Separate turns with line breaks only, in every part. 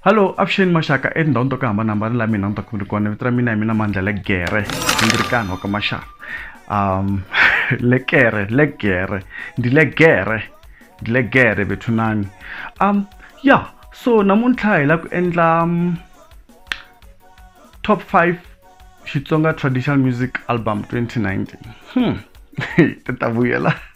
hallo avuxeni maxaka etindhawini to ku hambanahambana la mina ni ta ku ri kona vito ra mina hi mina mandla le gere ndzi ri kani wa ka maxaka um le kere le gere ndi le gere ndi le gere bethunani um ya so namuntlha hi la ku endla um, top 5 xitsonga traditional music album 2019 hmm. ti ta vuyela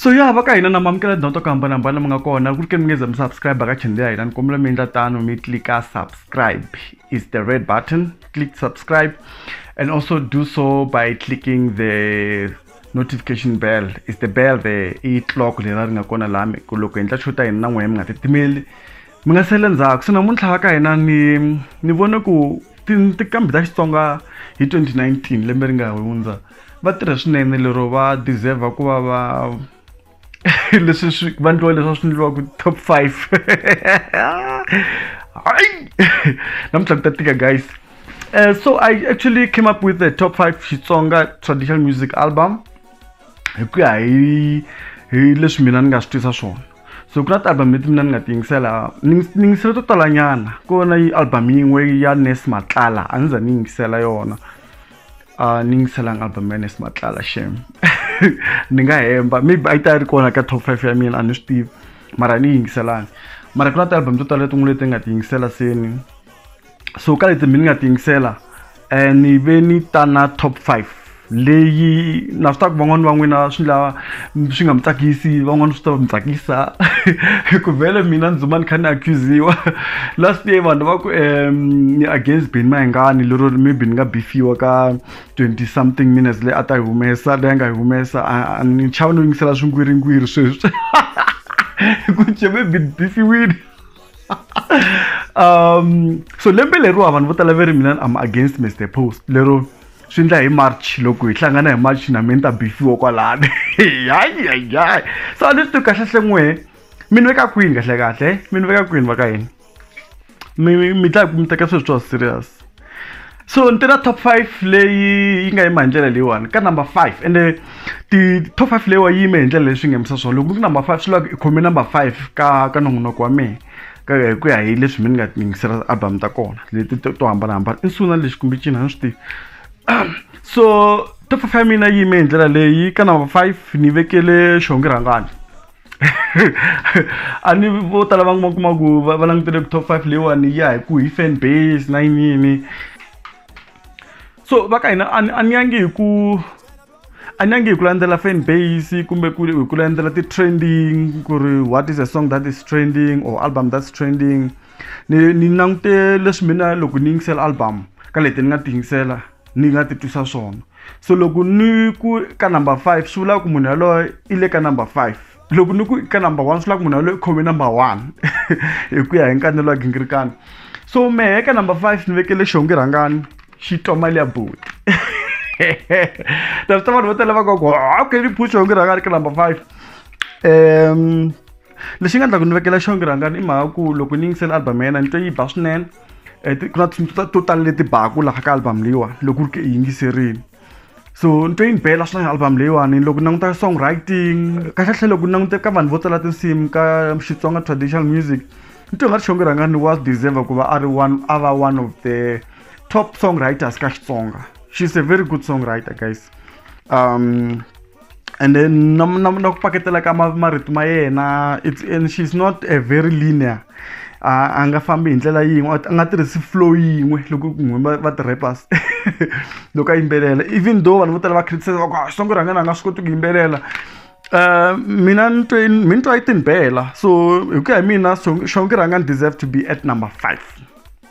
so ya va ka hina na mamukela tindhawu ta ku hambanahambana mi nga kona ku ri ke mi nge za mi subscribe ka channel ya hina ni kombela mi endla tano mi tlika subscribe is the red button click subscribe and also do so by clicking the notification bell is the bell the i clock leri ri nga kona lami ku loko hi endla xo ta hina na n'wehe mi nga titimeli mi nga sele ndzhaku se namuntlha va ka hina ni ni vone ku tinkambi ta xitsonga hi 2019 lembe ri nga hundza va tirhe swinene lero va deserve ku va va leswi swi va ndliwa leswi va swi ndliwaka top five hayi namuntlha ku ta tika guys uh, so i actually came up with the top five xitsonga traditional music album hi ku ya hi hi leswi mina ni nga swi twisa swona so ku na ti-album leti mina ni nga ti yingisela ni yingis- ni yingisele to talanyana ko na yi album yin'we ya nes matlala a ni za ni yingisela yona a ni yingiselanga album ya nes matlala shem ni nga hemba maybe a yi ta yi ri kona ka top five ya mina a ni swi tivi mara a ni yi yingiselanga mara ku na ti-album to tala tin'we leti ni nga ti yingisela seni so ka leti mi ni nga tiyingisela um ni ve ni ta na top five leyi na swi taku van'wani va n'wina swi lava swi nga mi tsakisi van'wani swi ta mi tsakisa ku vhele mina ni dzuma ni kha ni accusiwa last year vanhu va ku um ni against beni mahengani lero ri maybe ni nga bifiwa ka twenty something minutes leyi a ta yi humesa leyi a nga yi humesa ni chava no yingisela swingwiringwiri sweswi ku ce maybe ni bifiwile um so lembe leriwa vanhu vo tala ve ri mina am against mr post lero swi endla hi march loko hi hlangana hi march na mina ta bifiwa kwalani hayihayihayi so a ni swi tivi kahle hle n'wehe mi ni veka kwini kahlekahle mi ni veka kwini va ka yini mi mi dlaya ku mi teka sweswi swa serious so ni teka top five leyi yi nga yima hi ndlela leyiwani ka number five ende ti top five leyiwa yi yime hi ndlela leyi swi ngemisa swona loko ku number five swi lava ku i khome number five ka ka nongonoko wa mina ka hi ku ya hi leswi mi ni nga tingisela album ta kona leti to to hambanahambana i nsuna lexi kumbe cina ni swi tivi so top five ya mina yi yime hi ndlela leyi ka number five ni vekele xihongi rhangani a ni vo tala va kuma kuma ku va langutele ku top five leyiwani ya hi ku hi fan base na yinini so va ka hina a ni yangi hi ku a ni yangi hi ku landzela fan base kumbe ku hi ku landzela ti-trending ku ri what is a song that is trending or album that's trending ni ni langute leswi mina loko ni yingisela album ka leti ni nga ti yingisela ni nga ti twisa swona so loko ni ku ka number five swi vula ku munhu yaloye i le ka number five loko ni ku ka number one swi vula ku munhu yaloye i khome number one hi ku ya hi nkanelo wa gingirikani so mehe ka number five ni vekele xongi rhangani xi twa mali ya boti ta swi ta vanhu vo tala va koko okay ni phu xongi rhangani ka number five um lexi nga endla ku ni vekela xongi rhangani i mhaka ku loko ni yingisela album ya yena ni twe yi ba swinene eh, ku na tinsimu to tala leti baku laha ka album leyiwani loko ri ke i yingiserini so ni twe yi ni bela swinene album leyiwani loko languta song writing kahlekahle loko ni langute ka vanhu vo tala tinsimu ka xitsonga traditional music ni twe nga ri xonge rhangani wa deserve ku va a ri one a va one of the top song writers ka xitsonga she's a very good song writer guys um and then na na na ku paketela ka marito ma yena it's and she's not a very linear a nga fambi hi ndlela yin'we a nga tirhisi flow yin'we loko ku nghuma va ti-rappers loko a yimbelela even though vanhu vo tala va criticize va ku a ah, xitsongo rhangana a nga swi koti ku yimbelela um mina ni twe mi ni twa yi tinibela so hi ku ya hi mina xongi rhanga ni deserve to be at number five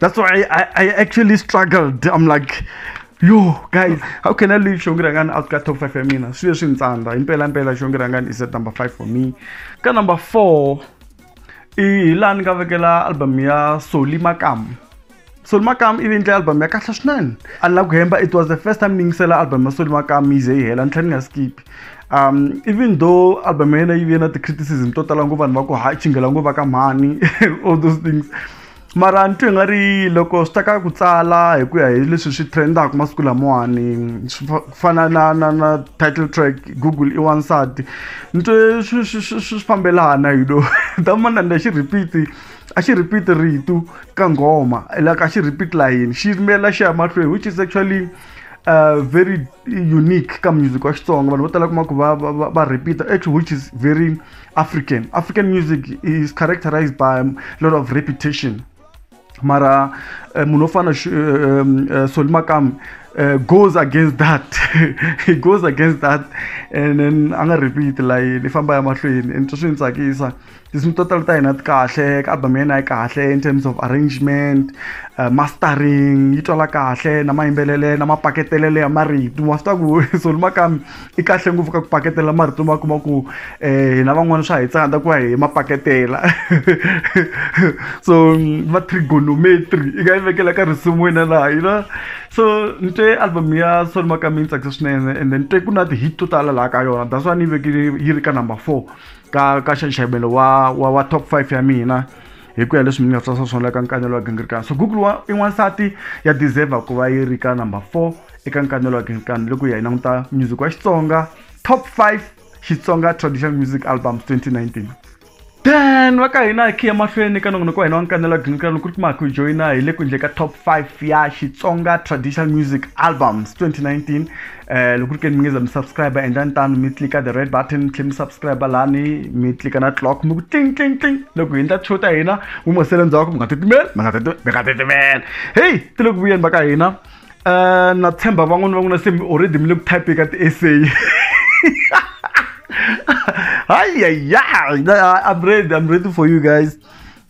that's why I, I actually struggled i'm like yo guys how can i leave shongi rangani out ka top 5 ya mina swi leswi ni tsandza himpela mpela shongi rangani is at number 5 for me ka number 4 i hi laha ni nga vekela album ya soli makam soli makam ivi endle album ya kahle swinene a ni la ku hemba it was the first time ni yingisela album ya soli makam yi ze yi hela ni tlhela ni nga skipi um even though album ya yena yi ve na ti-criticism to tala ngopfu vanhu va ku ha chingela ngopfu va ka mhani all those things mara ni twe nga ri loko swi ta ka ku tsala hi ku ya hi leswi swi trendaka masiku lamawani swi fana na na na title track google i wansati ni twe swi swi swi swi fambelana you know ta mana ni xi repeat a xi repeat ritu ka nghoma like a xi repeat layini xi yimela xi ya mahlweni which is actually uh very unique ka music wa xitsonga vanhu vo tala kuma ku va va va- va repeat actually which is very african african music is characterized by a lot of repetition mara eh, munhu wo fana Shu- eh, um, eh, Solly Makam eh, goes against that he goes against that and then a nga repeat layini i famba ya mahlweni and swi ni tsakisa tinsimu to tala ta hina ti kahle ka album yena yi kahle in terms of arrangement uh, mastering yi twala kahle na mayimbelele na mapaketelele ya marito wa swi ta ku soli makami i kahle ngopfu ka ku paketela marito ma kuma ku um hina van'wana swa hi tsanda ku va hi mapaketela so va trigonometry i nga yi vekela ka risimu wena laha yi na so ni twe album ya soli makami yi tsakisa swinene and then twe ku na ti-hit to tala laha ka yona that's why ni yi vekile yi ri ka number four ka ka nxaxamelo wa wa wa top five ya mina hi ku ya leswi mi nga tsarisa swona eka nkanelo wa gingirikani so google wa i n'wansati ya deserve ku va yi ri ka number four eka nkanelo wa gingirikani loko hi ya yi languta music wa xitsonga top five xitsonga traditional music albums 2019 then va ka hina hi khiya mahlweni ka nongonoko wa hina wa nkanelo wa gingirikani ku ri kuma ku joyina hi le ku endle ka top five ya xitsonga traditional music albums 2019 eh loko ri ke ni mi nge za mi subscribe endlani tano mi clika the red button mi tlhe mi subscribe lani mi clika na clock mi ku ting ting ting loko hi endla show ta hina mi mo sele ndzhaku mi nga titimeli mi nga titimeli mi nga titimeli heyi ti le ku vuyeni va ka hina um na tshemba van'wani va n'wina se mi already mi le ku type ka ti-essay hayi yayi i'm ready i'm ready for you guys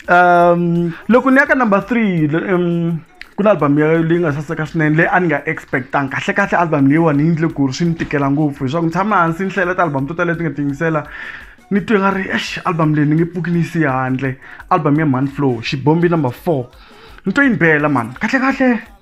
um loko ni ya ka number three um ku na album ya leyi nga saseka swinene leyi a ni nga expectanga kahle kahle album leyiwani yi ndle ku ri swi ni tikela ngopfu leswaku ni tshama hansi ni hlayela ti-album to tala leti nga tingisela ni twe nga ri ex album leyi ni nge pfuki ni yi siya handle album ya man flow xibombi number four ni twe yi ni bela mani kahle kahle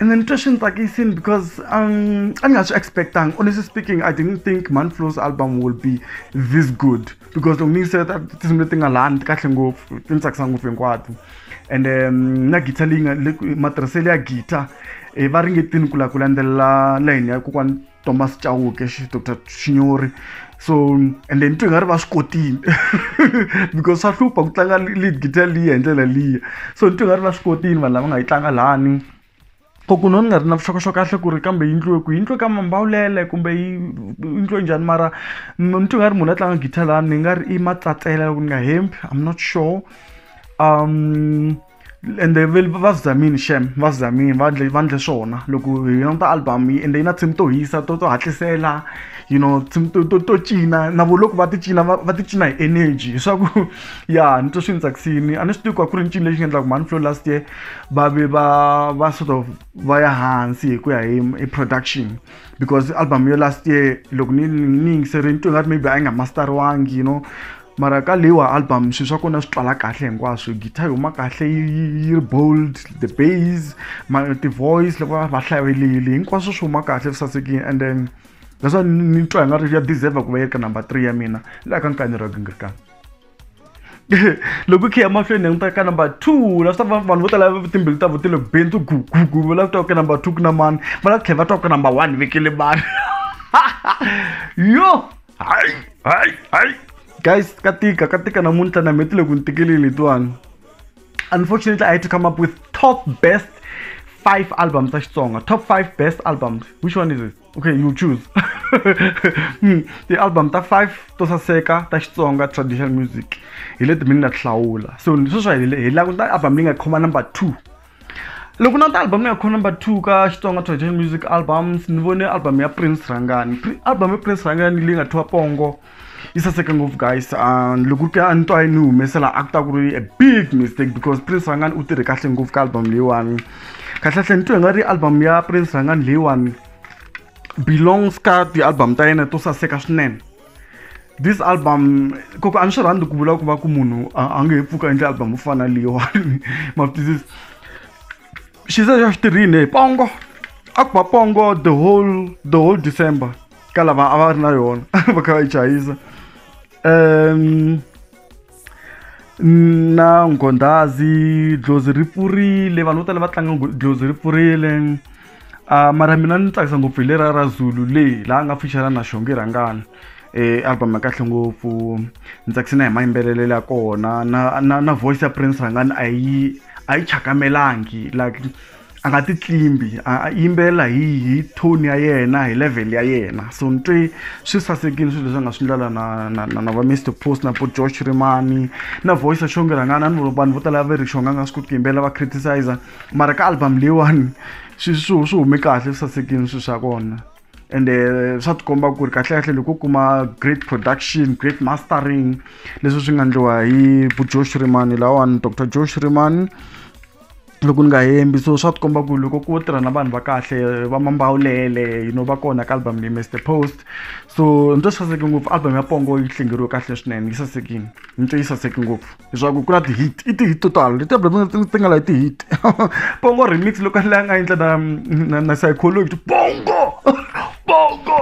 And then Trish and Takisin because um, I'm not expecting. Honestly speaking, I didn't think Manflow's album will be this good because long me said that this is thing I learned kahle ngofu tintsakisa ngofu hinkwato and um, na guitar leyi matirhiselo ya guitar eh, va ringetini ku la ku landzelela line ya kokwana thomas chauke dr chinyori so and then twi nga ri va swi kotile because swa hlupha ku tlanga lead guitar liya hi ndlela liya so ni twi nga ri va swi kotile vanhu lava nga yi tlanga lani koku no ni nga ri na vuxokoxoko kahle ku ri kambe yindliwe ku yindliwe ka mambawulele kumbe yi yindliwe njhani mara ni twi nga ri munhu a tlanga guitar lani ni nga ri i matsatsela loko ni nga hembi im not sure um ende va zamini xem va zamini va ndle va ndle swona loko hi languta album yi ende yi na tinsimu to hisa to to hatlisela you know tinsimu to to to cina na vo loko va ti cina va va ti cina hi energy leswaku ya ni twa swi ni tsakisini a ni swi tivi ku a ku ri ncini lexi nga endlaka mhani flow last year va ve va va sort of va ya hansi hi ku ya hi hi production because album yo last year loko ni ni yingiseri ni twe nga ri maybe a yi nga masteriwangi you know mara ka leyiwa album swilo swa kona swi twala kahle hinkwaswo guitar yi huma kahle yi ri bold the base ti-voice loko va hlavelile hinkwaswo swi huma kahle swi sasekile and then that's why ni twa hi nga ri ya deserve ku va yi ri ka number three ya mina laha ka nkanyi ra gingirikana loko khe emahlweni hi n'wi ka number two la swi ta vanhu vo tala timbilu ta vo ti le bentsu gugugu va lava ku twa ka number two ku na mani va lava tlhela va twa ka number one vekele vanhu yo Hai, hai, hai. Guys, Katika, Katika namunta na metile kuntikili lituang. Unfortunately, I had to come up with top best five albums such song. Top five best albums. Which one is it? Okay, you choose. Hmm, the album ta five to saseka ta Xitsonga traditional music. Hi leti mina hlawula. So, so swa hi la ku ta album leyi nga khoma number 2. loko na ta album ya khona number two ka xitsonga traditional music albums ni vone album ya prince rhangani Pri- album ya prince rhangani leyi nga thiwa pongo yi saseke ngopfu guys Ah, loko ke a ni twa yi ni humesela a ku ta ku ri a big mistake because prince rhangani u tirhe kahle ngopfu ka album leyiwani kahlekahle ni twe nga ri album ya prince rhangani leyiwani belongs ka ti-album ta yena to saseka swinene this album koko a ni swi rhandzi ku vula ku va ku munhu a nge he pfuka endle album yo fana leyiwani mafutizisi xi ze xa xitirhini hi pongo a ku va pongo the whole the whole december ka lava a va ri na yona va kha va yi chayisa um na nghondhazi dlozi ri pfurile vanhu vo tala va tlanga dlozi ri pfurile um mara mina ni tsakisa ngopfu hi leriya ra zulu le laha a nga pfuxela na xonge rhangani um album ya kahle ngopfu ni tsakise na hi mayimbelelelo ya kona na na na voice ya prince rhangani a yi a yi chakamelangi like a nga ti tlimbi a yimbelela hi hi tone ya yena hi level ya yena so ni twe swi sasekile swilo leswi a nga swi ndlela na na na na va mr post na po george rimani na voice xonge rhangana ni vanhu vo tala va ri xonga nga swi koti ku yimbelela va criticizer mara ka album leyiwani swi swi swi hume kahle swi sasekile swilo swa kona ende eh, swa tikomba ku ri kahlekahle loko u kuma great production great mastering leswi swi nga ndliwa hi bujosh rimani lawani dr josh rimani loko ni nga hembi so swa tikomba ku loko ku tirha na vanhu va kahle va mambawulele you know va kona ka album leyi mr post so ni to saseke ngopfu album ya pongo yi hlengeriwe kahle swinene yi sasekini ni to yi saseke ngopfu leswaku ku na ti-hit i ti-hit to tala leti album ti nga layi ti-hit pongo remix loko a nga endla na na na psychology pongo pongo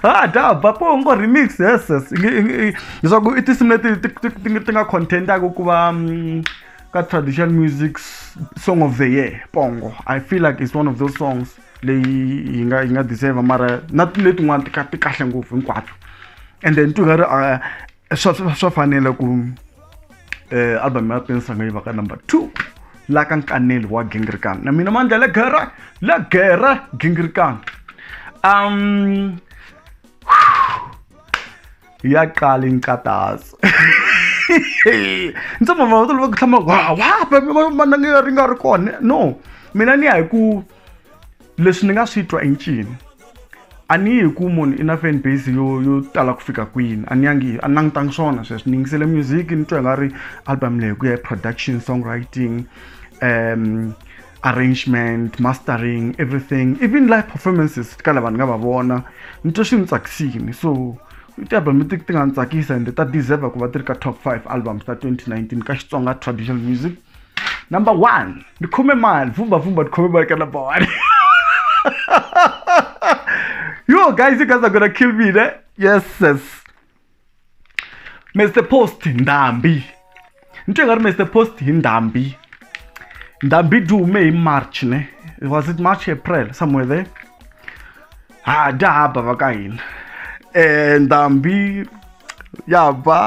ha da ba po ngo remix yes yes leswaku i tinsimu leti ti nga contentaka ku va mm, ka traditional music song of the year pongo i feel like it's one of those songs leyi yi nga yi nga deserve mara na letin'wana tika ti kahle ngopfu hinkwato and then tu nga ri ah, swa swa fanela ku um album ya pensanga yi va ka number two la ka nkaneli wa gingrikan na mina mandla le gera le gera gingrikan um iyaqala inkathazo ndzi mama va tolova ku hlama wa wa mana nga ri nga ri kona no mina ni ya hi ku leswi ni nga swi twa i ncini a ni yi hi ku munhu i na fan base yo yo tala ku fika kwini a ni yangi a ni langutangi swona sweswi ni yingisele music ni twa i nga ri album leyi ku ya hi production song writing um arrangement mastering everything even live performances ka lava ni nga va vona ni twa swi ni tsakisini so ti-album leti ti nga ni tsakisa ende ta deserve ku va ti ri ka top five albums ta 2019 ka xitsonga traditional music number one ni khome mali vumbavumba ni khome mali ka number one yo guys you guys are gonna kill me ne yes yes mr post ndhambi ni twe nga ri mr post hi ndhambi ndhambi dume hi march ne was it march april somewhere there ha dya haba va ka hina um ndhambi ya ba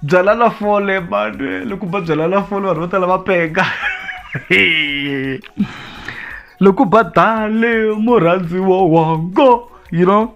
byala la fole vanhu loko ba byala la fole vanhu vo tala va penga loko ba dale murhandziwa wango you know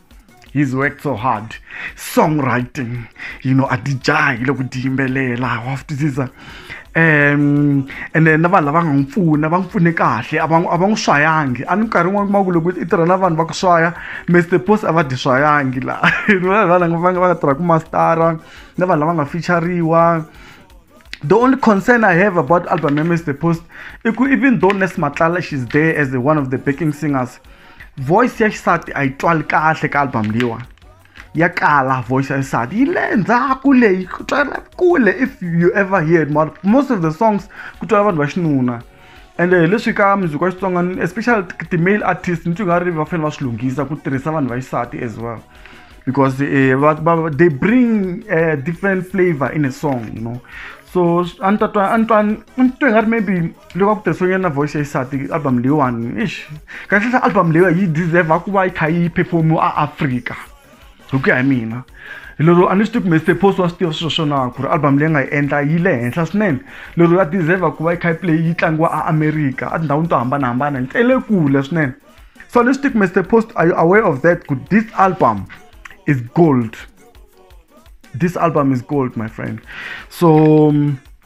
he's worked so hard songwriting you know a ti jahi loko ti yimbelela wa swi twisisa um and then na vanhu lava nga n'wi pfuna va n'wi pfune kahle a va a va n'wi swayangi a ni minkarhi yin'wana kuma ku loko i tirha na vanhu va ku swaya mr post a va dyi swayangi laha vanhu va nga tirha ku mastara na vanhu lava nga fichariwa the only concern i have about album memes the post iku even though nes matlala she's there as the one of the backing singers voice ya xisati a yi twali kahle ka album leyiwa ya kala voice ya xisati yi le ndzhaku leyi ku twala kule if you ever heard most of the songs ku twala vanhu va xinuna ende hi leswi ka muziki wa xitsonga especially ti-male artist ni twi nga ri va fanele va swi lunghisa ku tirhisa vanhu va xisati as well because eh, va, va, they bring a different flavor in a song you know so a ni ta twa a ni twa ni twe nga ri maybe loko a ku tirhisiwe nyana na voice ya xisati album leyiwani ish kahlehla album leyiwa yi deserve ku va yi kha yi performiwa a africa hi ku ya hi mina lero a ni swi tivi kumbe stephos wa swi tiva swilo swo nawu ku ri album leyi nga yi endla yi le henhla swinene lero ya deserve ku va yi khayipi leyi yi tlangiwa a america a tindhawini to hambanahambana yi tele kule swinene so a ni swi tivi kumbe stephos are you aware of that ku this album is gold this album is gold my friend so um,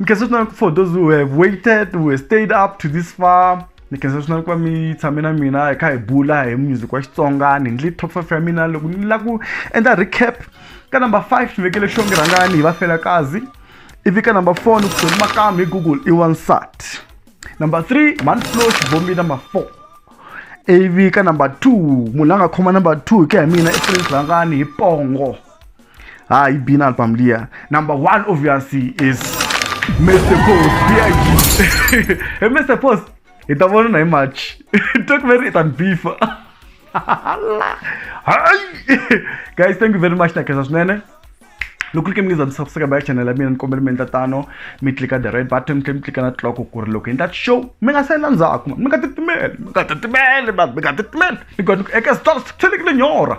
Nikazotona for those who have waited, who have stayed up to this far. Nikazotona kwa mi tshame na mina hi kha hi bula hi music wa Xitsonga ni ndli top 5 ya mina loko ni la ku endla recap ka number 5 ni vekele xongi rhangani hi va fela kazi ivi ka number 4 ni ku tsoni makamu hi Google i wansat number 3 man flow xibombi number 4 ivi ka number 2 munhu la nga khoma number 2 hi ku ya hi mina i Prince rhangani hi pongo Ah, he been al pamlia. Number one obviously is Mr. Post. BIG. hey, Mr. Post. Ita mo na match. Talk very it and beef. Guys, thank you very much na kesa sunene. loko ri ke mi nge za mi subscribe ya channel ya mina ni kombela mi endla tano mi tlika the red button mi tlhela mi tlika na tloko ku ri loko endla show mi nga salela ndzhaku mi nga titimeli mi nga titimeli vanhu mi nga titimeli ni ku eka stars tlhelekile nyora